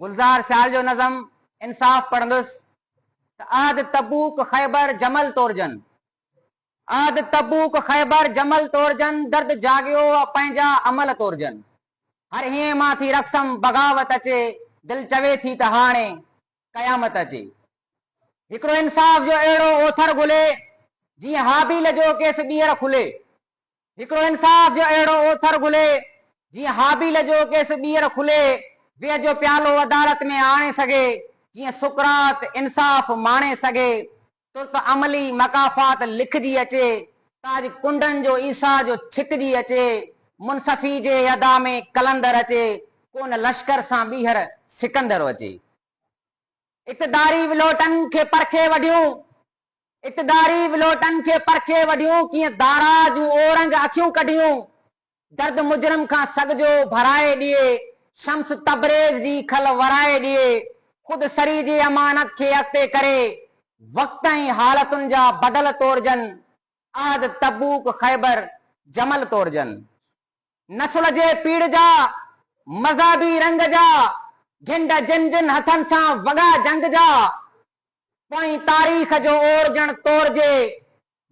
گلزار شال جو نظم انصاف پڙهندس ته عهد تبوڪ خيبر جمل تورجن عهد تبوڪ خيبر جمل تورجن درد جاڳيو و پنهنجا عمل تورجن هر هينء مان ٿي رقصم بغاوت اچي دل چوي ٿي ته هاڻي قيامت اچي هڪڙو انصاف جو اهڙو اوٿر گهلي جيئن هابيل جو ڪيس ٻيهر کلي هڪڙو انصاف جو اهڙو اوٿر گهلي، جيئن هابيل جو ڪيس ٻيهر کلي ويهه جو پيالو عدالت ۾ آڻي سگهي، جيئن سقراط انصاف ماڻي سگهي، ترت عملي مڪافات لکجي اچي، تاج ڪنڊن جو عيسيٰ جو ڇڪجي اچي، منصفي جي ادا ۾ قلندر اچي، ڪو نه لشڪر سان ٻيهر سڪندر اچي. اقتداري ولوٽن کي پرکي وڍيون، اقتداري ولوٽن کي پرکي وڍيون ڪيئن دارا جون اورنگ اکيون ڪڍيون درد مجرم کان سڳ جو ڀرائي ڏيئي شمس تبريز جي کل ورائي ڏيئي خود سري جي امانت کي اڳتي ڪري وقت ۽ حالتن جا بدل تورجن احد تبوڪ خيبر جمل تورجن نسل جي پيڙهه جا مذهبي رنگ جا گهنڊ جن جن هٿن سان وڳا جنگ جا پوئين تاريخ جو اورجڻ تورجي،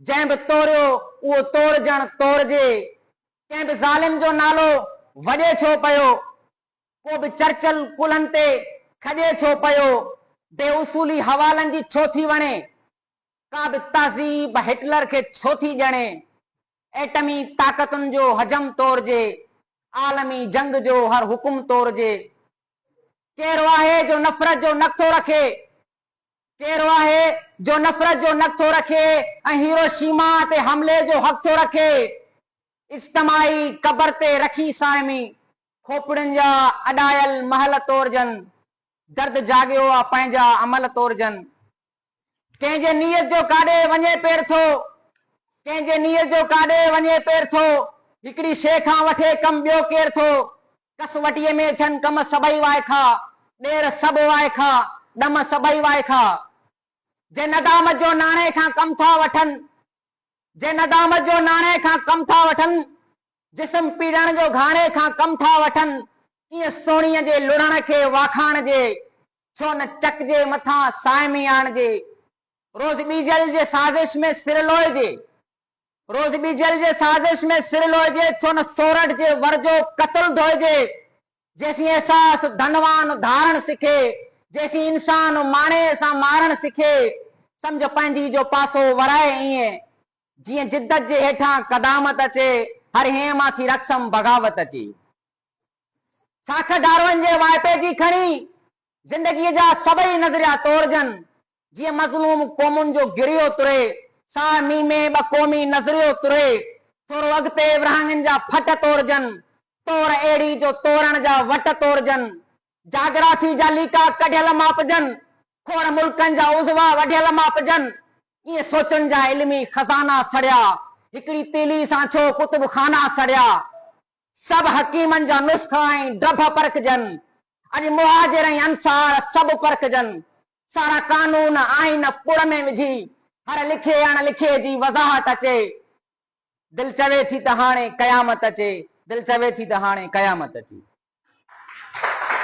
جنهن به توريو اهو تورجڻ تورجي، ڪنهن به ظالم جو نالو وڄي ڇو پيو، ڪو به چرچل ڪلهن تي کڄي ڇو پيو، بي اصولي حوالن جي ڇو ٿي وڻي، ڪا به تهذيب هٽلر کي ڇو ٿي ڄڻي، ايٽمي طاقتن جو حجم تورجي، عالمي جنگ جو هر حڪم تورجي، ڪهڙو آهي جو نفرت جو نڪ ٿو رکي؟ ڪهڙو آهي جو نفرت جو نڪ ٿو رکي ۽ هيروشيما تي حملي جو حق ٿو رکي؟ اجتماعي قبر تي رکي صائمي کوپڙين جا اڏايل محل تورجن، درد جاڳيو آ پنهنجا امل تورجن، ڪنهن جي نيت جو ڪاڏي وڃي پير ٿو ڪنهن جي نيت جو ڪاڏي وڃي پير ٿو هڪڙي شيء کان وٺي ڪم ٻيو ڪير ٿو ڪس وٽيء ۾ ٿين ڪم سڀئي وائکا ڏير سڀ وائکا ڏم سڀئي وائکا جي ندامت جو ناڻي کان ڪم ٿا وٺن جي ندامت جو ناڻي کان ڪم ٿا وٺن جسم پيڙڻ جو گهاڻي کان ڪم ٿا وٺن ڪيئن سهڻيء جي لڙهڻ کي واکاڻجي ڇو نه چڪجي مٿان صائمي آڻجي. روز ٻيجل جي سازش ۾ سر لوئجي. روز ٻيجل جي سازش ۾ سر لوئجي. ڇو نه سورٺ جي ور جو قتل ڌوئجي. جيسين احساس ڌنوان ڌارڻ سکي. جيسين انسان ماڻي سان مارڻ سکي. سمجهه پنهنجي جو پاسو ورائي ائين. جيئن جدت جي هيٺان قدامت اچي. هر هين مان ٿي رقصم بغاوت اچي. ساک ڊارون جي وائپي جي کڻي زندگيء جا سڀئي نظريا تورجن، جيئن مظلوم قومن جو گريو تري، ساهه مينهن ۾ ٻه قومي نظريو تري، ٿورو اڳتي ورهاڱن جا ڦٽ تورجن، تور اهڙي جو تورڻ جا وٽ تورجن، جاگرافي جا ليڪا ڪڍيل ماپجن، کوڙ ملڪن جا عضوا وڍيل ماپجن، ڪيئن سوچن جا علمي خزانا سڙيا، هڪڙي تيلي سان ڇو ڪتب خانا سڙيا. سڀ حڪيمن جا نسخا ۽ ڊڀ پرکجن، اڄ مهاجر ۽ انصار سڀ پرکجن، سارا قانون، آئين پڙ ۾ وجهي، هر لکي اڻ لکي جي وضاحت اچي، دل چوي ٿي ته هاڻي قيامت اچي، دل چوي ٿي ته هاڻي قيامت اچي.